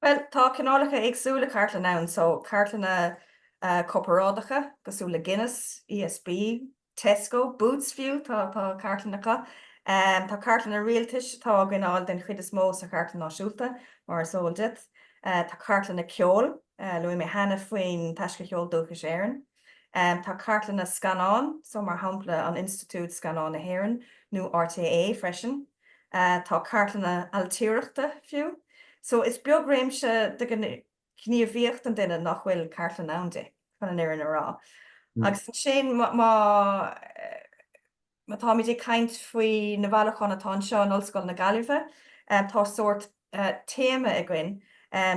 Bhuel, tá cineálacha éagsúla cartlann ann so, cartlanna corparáideacha cosúil le Guinness, ESB, Tesco, Boots fiú, tá cartlann acu. Tá cartlanna rialtais atá á gcoinneáil den chuid is mó sa Chartlann Náisiúnta, mar is eol duit. Tá cartlanna ceoil, luaigh mé cheana faoin Taisce Cheol Dúchais Éireann. Tá cartlanna scannán, so mar shampla an Institiúid Scannán na hÉireann nó RTÉ freisin. tá cartlanna ailtireachta fiú, so is beag réimse de ghníomhaíocht an duine nach bhfuil cartlann ann di, chun an fhirinne a rá. Agus ansin má táimid ag caint faoi na bhailiúcháin atá anseo in Ollscoil na Gaillimhe, tá sórt téama againn,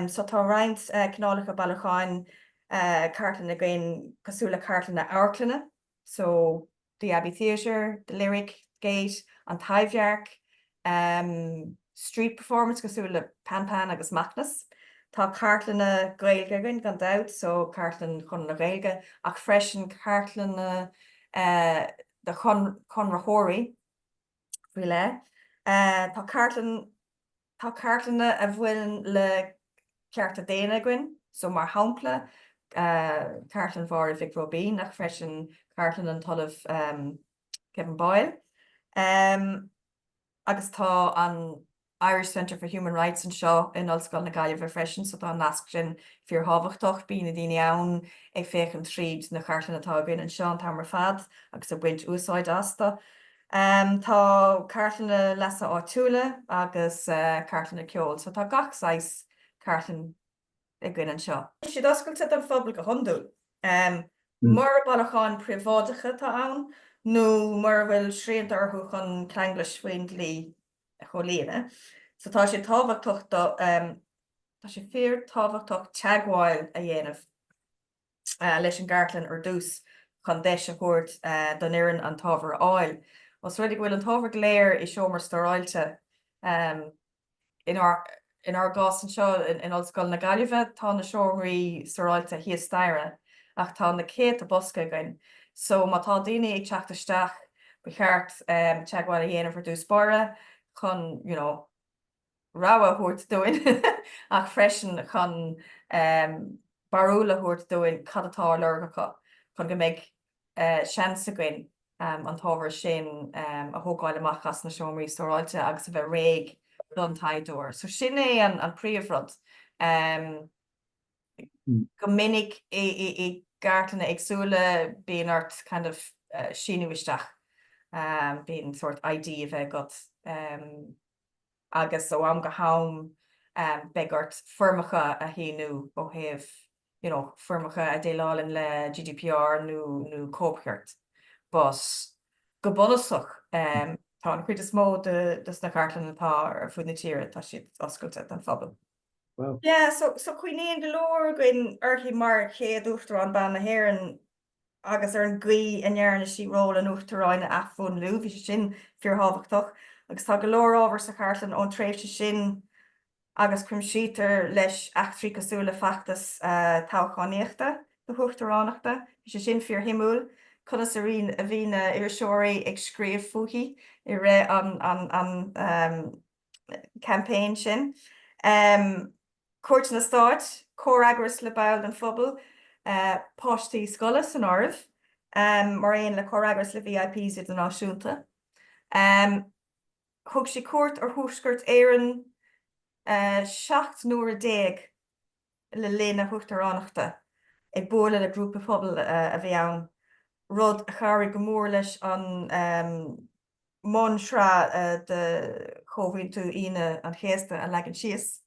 so tá roinnt cineálacha bailiúcháin cartlainne againn cosúil le cartlanna amharclainne, so, the Abbey Theatre, the Lyric, Gate, An Taibhdhearc, street performance cosúil le Pan Pan agus Macnas. Tá cartlanna Gaeilge againn gan dabht, so, cartlann Chonradh na Gaeilge, ach freisin cartlanna de chonraitheoirí faoi leith. Tá cartlann. Tá cartlanna a bhaineann le cearta daonna againn so, mar shampla, cartlann Mháire Mhic Róibín ach freisin cartlann an tOllamh Kevin Boyle agus tá an Irish Centre for Human Rights anseo in Ollscoil na Gaillimhe freisin so tá an nasc sin fíorthábhachtach. Bíonn na daoine ann ag féachaint tríd na cartlanna atá againn anseo an t-am ar fad agus ag baint úsáid astu. Tá cartlanna leasa áitiúla agus cartlanna ceoil so tá gach saghas cartlann againn anseo. Tá siad oscailte don phobal go hiondúil. Mura bailiúchán príobháideacha atá ann nó mura bhfuil srianta orthu chun ceanglais faoin dlí a chomhlíonadh so tá sé tábhachtach, tá sé fíor tábhachtach teagmháil a dhéanamh leis an gcartlann ar dtús chun deis a thabhairt don fhoireann an t-ábhar a fháil. Os rud é go bhfuil an t-ábhar go léir i seomra stóráilte, inár gcás anseo in Ollscoil na Gaillimhe, tá na seomraí stóráilte thíos staighre ach tá na céadta bosca againn so má tá daoine ag teacht isteach ba cheart teagmháil a dhéanamh ar dtús báire chun, you know, rabhadh a thabhairt dúinn ach freisin chun barúil a thabhairt dúinn cad atá ar lorg acu chun go mbeidh seans againn an t-ábhar sin a thógáil amach as na seomraí stóráilte agus a bheith réidh don taighdeoir. So sin é an príomhrud. Go minic i gcartlanna éagsúla bíonn ort kind of síniú isteach, bíonn ort ID a bheith agat. agus ó am go ham beidh ort foirmeacha a shíniú ó thaobh, you know, foirmeacha a dhéileálann le GDPR nó cóipchirt. But, go bunúsach, tá an chuid is mó de sna cartlanna atá ar fud na tíre, tá siad oscailte don phobal. Yeah, so, so cuimhníonn go leor againn uirthi mar chéad Uachtarán ban na hÉireann agus ar an gcaoi a ndearna sí ról an Uachtaráin a athmhúnlú, bhí sé sin fíorthábhachtach, agus tá go leor ábhar sa chartlann ón tréimhse sin agus cuimsítear leis eachtraí cosúil le feachtas toghchánaíochta na huachtaránachta, bhí sé sin fíorshuimiúil, conas a bhí na iriseoirí ag scríobh fúithi i rith an. campaign sin, cuairteanna stáit, comhfhreagras le baill den phobal, páistí scoile san áireamh, mar aon le comhfhreagras le VIPs idirnáisiúnta. Thug sí cuairt ar Thuaisceart Éireann 17 n-uaire le linn a huachtaránachta, ag bualadh le grúpaí pobail a bhí ann, rud a chabhraigh go mór leis an. mbunsraith de Chomhaontú Aoine an Chéasta a leagan síos.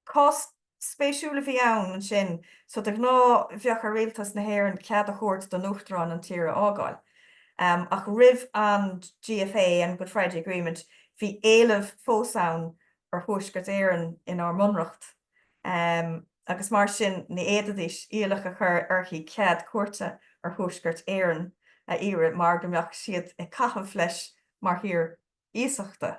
Cás spéisiúil a bhí ann ansin, so de ghnáth bheadh ar Rialtas na hÉireann cead a thabhairt don Uachtarán an tír a fhágáil, ach roimh an GFA, an Good Friday Agreement, bhí éileamh fós ann ar Thuaisceart Éireann inár mBunreacht. agus mar sin ní fhéadfaidís iallach a chur uirthi cead cuairte ar Thuaisceart Éireann a iarraidh mar go mbeadh siad ag caitheamh leis mar thír iasachta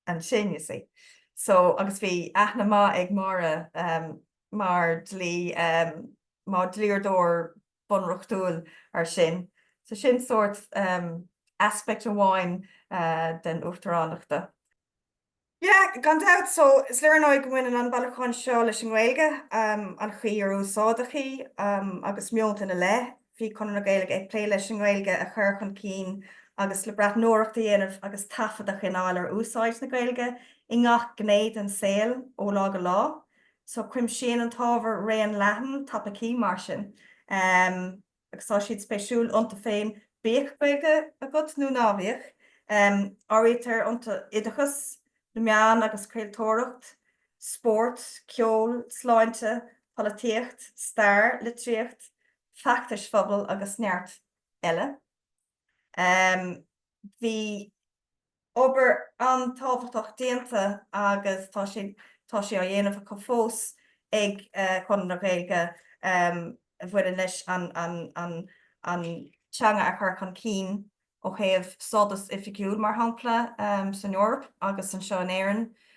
ansin, you see. So, agus bhí aithne mhaith ag Mary mar dlí, mar dhlíodóir bunreachtúil air sin. So sin sórt aspect amháin den Uachtaránachta. Yeah, gan dabht, so is léir ar ndóigh go mbaineann an bailiúchán seo leis an nGaeilge, an chaoi ar úsáideadh í agus meonta ina leith. Bhí Conradh na Gaeilge ag plé leis an nGaeilge a chur chun cinn agus le breathnóireacht a dhéanamh agus taifead a choinneáil ar úsáid na Gaeilge i ngach gné den saol ó lá go lá. So cuimsíonn an t-ábhar raon leathan topaicí mar sin. agus tá siad spéisiúil iontu féin, bíodh Gaeilge agat nó ná bíodh. Áirítear iontu oideachas, na meáin agus craoltóireacht, spórt, ceol, sláinte, polaitíocht, stair, litríocht, feachtais phobail agus neart eile. Bhí obair an-tábhachtach déanta agus tá sé tá sé á dhéanamh acu fós ag Conradh na Gaeilge a bhaineann leis an an an teanga a chur chun cinn ó thaobh stádas oifigiúil, mar shampla, san Eoraip agus anseo in Éirinn.